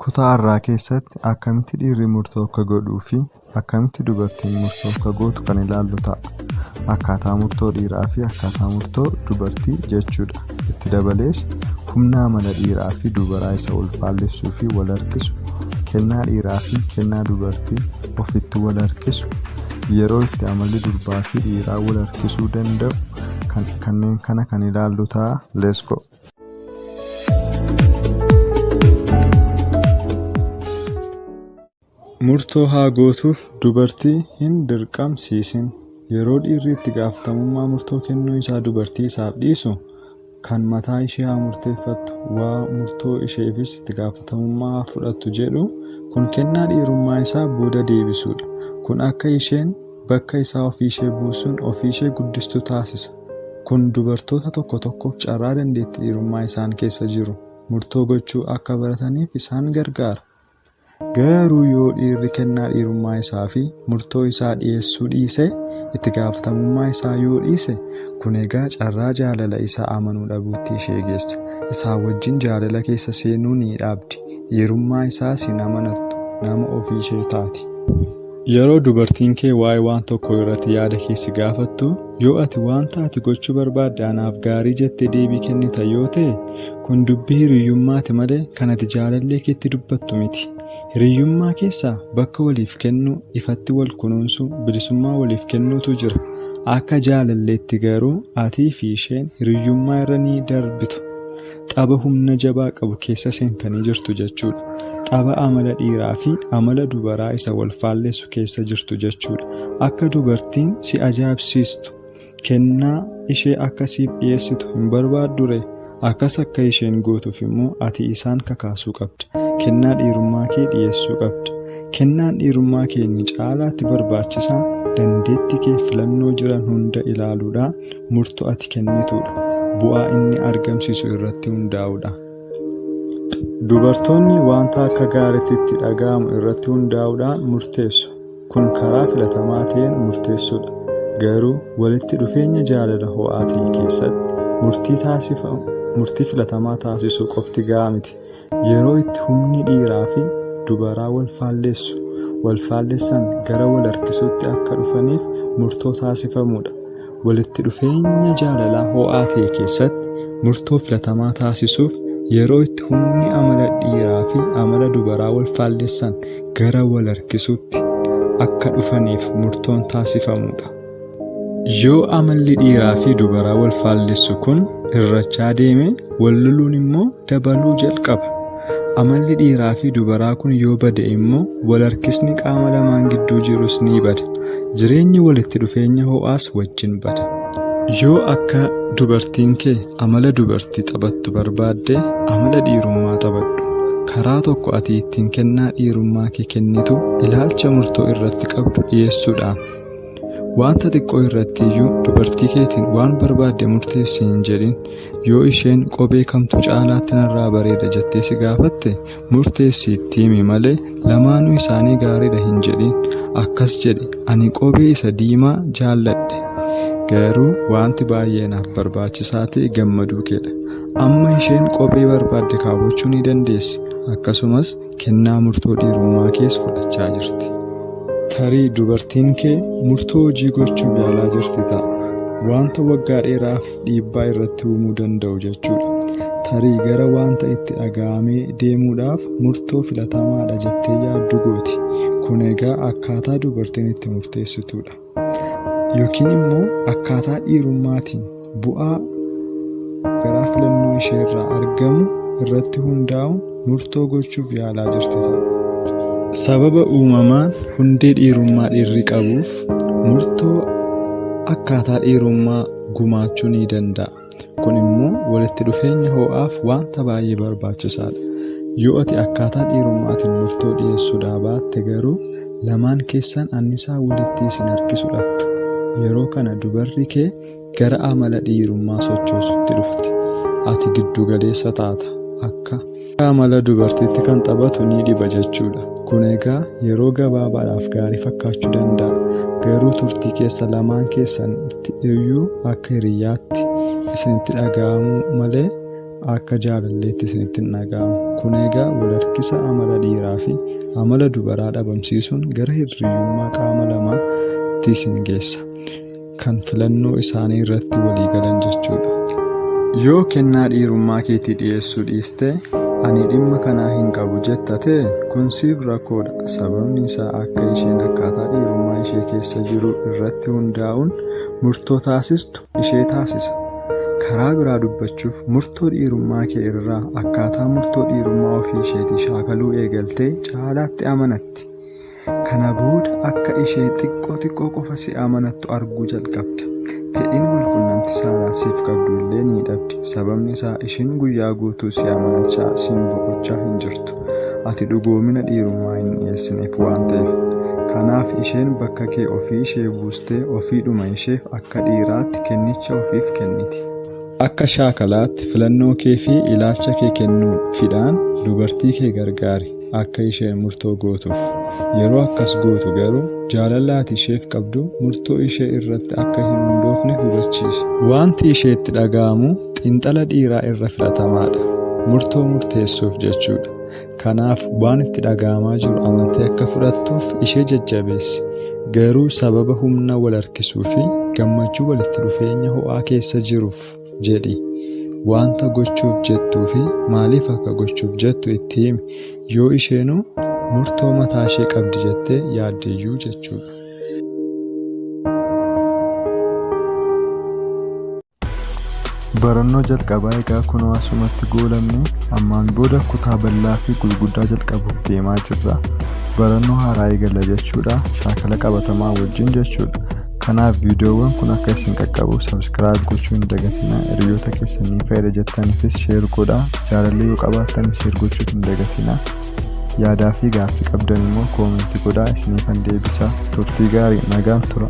Kutaa har'aa keessatti akkamitti dhiirri murtoo akka godhuu fi akkamitti dubartiin murtoo akka gootu kan ilaallu ta'a. Akkaataa murtoo dhiiraa fi akkaataa murtoo dubartii jechuudha. Itti dabalees humna amala dhiiraa fi dubaraa isa wal faallessuu fi wal harkisu, kennaa dhiiraa fi kennaa dubartii ofitti wal harkisu, yeroo itti amalli durbaa fi dhiiraa wal harkisuu danda'u kan- kanneen kana kan ilaallu ta'a. Let's go! Murtoo haa gootuuf dubartii hin dirqamsiisin. Yeroo dhiirri itti gaafatamummaa murtoo kennuu isaa dubartii isaaf dhiisu kan mataa ishee haa murteeffattu waa murtoo isheefis itti gaafatamummaa haa fudhattu jedhu kun kennaa dhiirummaa isaa booda deebisuudha. Kun akka isheen bakka isaa ofii ishee buusuun ofii ishee guddistu taasisa. Kun dubartoota tokko tokkoof carraa dandeetti dhiirummaa isaan keessa jiru murtoo gochuu akka barataniif isaan gargaara. Garuu yoo dhiirri kennaa dhiirummaa isaa fi murtoo isaa dhiyeessuu dhiise, itti gaafatamummaa isaa yoo dhiise, kun egaa carraa jaalala isaa amanuu dhabuutti ishee geessa. Isaa wajjin jaalala keessa seenuu ni dhaabdi. Dhiirummaa isaas hin amanattu, nama ofii ishee taati. Yeroo dubartiin kee waa'ee waan tokko irratti yaada kee si gaafattu, yoo ati wanta ati gochuu barbaadde anaaf gaarii jettee deebii kennita yoo ta'e, kun dubbii hiriyyummaati malee kan ati jaalallee keetti dubbattu miti. Hiriyyummaa keessa bakka waliif kennuu, ifatti wal kunuunsuu, bilisummaa waliif kennuutu jira. Akka jaalalleetti garuu atii fi isheen hiriyyummaa irra ni darbitu. Tapha humna jabaa qabu keessa seentanii jirtu jechuudha. Tapha amala dhiiraa fi amala dubaraa isa wal faallessu keessa jirtu jechuudha. Akka dubartiin si ajaa'ibsiistu, kennaa ishee akka siif dhiyeessitu hin barbaaddure? Akkas akka isheen gootuuf immoo ati isaan kakaasuu qabda. Kennaa dhiirummaa kee dhiyeessuu qabda. Kennaan dhiirummaa kee inni caalaatti barbaachisaan dandeetti kee filannoo jiran hunda ilaaluudha. Murto ati kennituudha. Bu'aa inni argamsiisu irratti hundaa'uudha. Dubartoonni wanta akka gaaritti itti dhaga'amu irratti hundaa'uudhaan murteessu. Kun karaa filatamaa ta'een murteessuudha. Garuu walitti dhufeenya jaalala ho'aa ta'e keessatti murtii filatamaa taasisuu qofti gahaa miti. Yeroo itti humni dhiiraa fi dubaraa wal faalleessu, wal faallessan gara wal harkisuutti akka dhufaniif murtoo taasifamuu dha. Walitti dhufeenya jaalalaa ho'aa ta'e keessatti murtoo filatamaa taasisuuf yeroo itti humni amala dhiiraa fi amala dubaraa wal faallessan gara wal harkisuutti akka dhufaniif murtoon taasifamuu dha. Yoo amalli dhiiraa fi dubaraa wal faallessu kun hir'achaa deeme wal loluun immoo dabaluu jalqaba. Amalli dhiiraa fi dubaraa kun yoo bade immoo wal harkisni qaama lamaan gidduu jirus ni bada. Jireenyi walitti dhufeenya ho'aas wajjin bada. Yoo akka dubartiin kee amala dubartii taphattu barbaadde amala dhiirummaa taphadhu. Karaa tokko ati ittiin kennaa dhiirummaa kee kennitu ilaalcha murtoo irratti qabdu dhiyeessuudhaan. Wanta xiqqoo irratti iyyuu dubartii keetiin waan barbaadde murteessi hin jedhin. Yoo isheen qobee kamtu caalaatti narraa bareeda jettee si gaafatte murteessi itti himi malee lamaanuu isaanii gaariidha hin jedhin. Akkas jedhi ani qobee isa diimaa jaalladhe. Garuu wanti baay'ee naaf barbaachisaa ta'e gammaduu keedha. Amma isheen qobee barbaadde kaawwachuu ni dandeessi. Akkasumas Kennaa murtoo dhiirummaa kees fudhachaa jirti. Tarii dubartiin kee murtoo hojii gochuuf yaalaa jirti ta'a. Wanta waggaa dheeraaf dhiibbaa irratti uumuu danda'u jechuudha. Tarii gara wanta itti dhaga'amee deemuudhaaf murtoo filatamaadha jettee yaaddu gooti. Kun egaa akkaataa dubartiin itti murteessituudha. yookiin immoo akkaataa dhiirummaatiin bu'aa garaa filannoo ishee irraa argamu irratti hundaa'uun murtoo gochuuf yaalaa jirti ta'a. Sababa uumamaan hundee dhiirummaa dhiirri qabuuf murtoo akkaataa dhiirummaa gumaachuu ni danda'a. Kun immoo walitti dhufeenya hoo'aaf wanta baay'ee barbaachisaadha. Yoo ati akkaataa dhiirummaatiin murtoo dhiyeessuudhaa baatte garuu lamaan keessan annisaa walitti isin harkisu dhabdu. Yeroo kana dubarri kee gara amala dhiirummaa sochoosutti dhufti. Ati giddu galeessa taata. Akka Akka amala dubartiitti kan taphatu ni dhiba jechuudha. Kun egaa yeroo gabaabaadhaaf gaarii fakkaachuu danda'a. Garuu turtii keessa lamaan keessanitti iyyuu akka hiriyyaatti isinitti dhaga'amu malee akka jaalalleetti isinitti hin dhaga'amu. Kun egaa wal harkisa amala dhiiraa fi amala dubaraa dhabamsiisuun gara hirriyyummaa qaama lamaatti isin geessa. kan filannoo isaanii irratti walii galan jechuudha. Yoo kennaa dhiirummaa keetii dhiyeessuu dhiiste, ani dhimma kanaa hin qabu jetta ta'e, kun siif rakkoodha. Sababni isaa akka isheen akkaataa dhiirummaa ishee keessa jiru irratti hundaa'uun murtoo taasistu ishee taasisa. Karaa biraa dubbachuuf murtoo dhiirummaa kee irraa akkaataa murtoo dhiirummaa ofii isheetii shaakaluu eegaltee caalaatti amanatti. Kana booda akka isheen xiqqoo xiqqoo qofa si amanattu arguu jalqabda. Fedhiin walqunnamti saalaa siif qabdu illee ni dhabdi. Sababni isaa isheen guyyaa guutuu si amanachaa siin boqochaa hin jirtu. Ati dhugoomina dhiirummaa hin dhiyeessineef waan ta'eef. Kanaaf isheen bakka kee ofii ishee buustee ofiidhuma isheef akka dhiiraatti kennicha ofiif kenniti. Akka shaakalaatti filannoo kee fi ilaalcha kee kennuun fidhaan dubartii kee gargaari. akka isheen murtoo gootuuf. Yeroo akkas gootu garuu jaalalli ati isheef qabdu murtoo ishee irratti akka hin hundoofne hubachiisi. Wanti isheetti dhaga'amu xiinxala dhiiraa irra filatamaadha. Murtoo murteessuuf jechuudha. Kanaaf waan itti dhaga'amaa jiru amantee akka fudhattuuf ishee jajjabeessi. Garuu sababa humna wal harkisuu fi gammachuu walitti dhufeenya ho'aa keessa jiruuf. jedhi. Wanta gochuuf jettuu fi maaliif akka gochuuf jettu itti himi. Yoo isheenuu murtoo mataa ishee qabdi jettee yaaddeyyuu jechuudha. Barannoo jalqabaa egaa kunoo asumatti goolabne ammaan booda kutaa bal'aa fi gurguddaa jalqabuuf deemaa jirra. Barannoo haaraa eegalla jechuudha. Shaakala qabatamaa wajjin jechuudha. Kanaaf viidiyoowwan kun akka isin qaqqabu subscribe gochuu hin dagatina. Hiriyoota keessan ni fayyada jettaniifis share godha. Jaalallee yoo qabaattan share gochuuf hin dagatina. Yaadaa fi gaaffii qabdan immoo koomentii godhaa isiniifan deebisa. Turtii gaarii nagaan tura.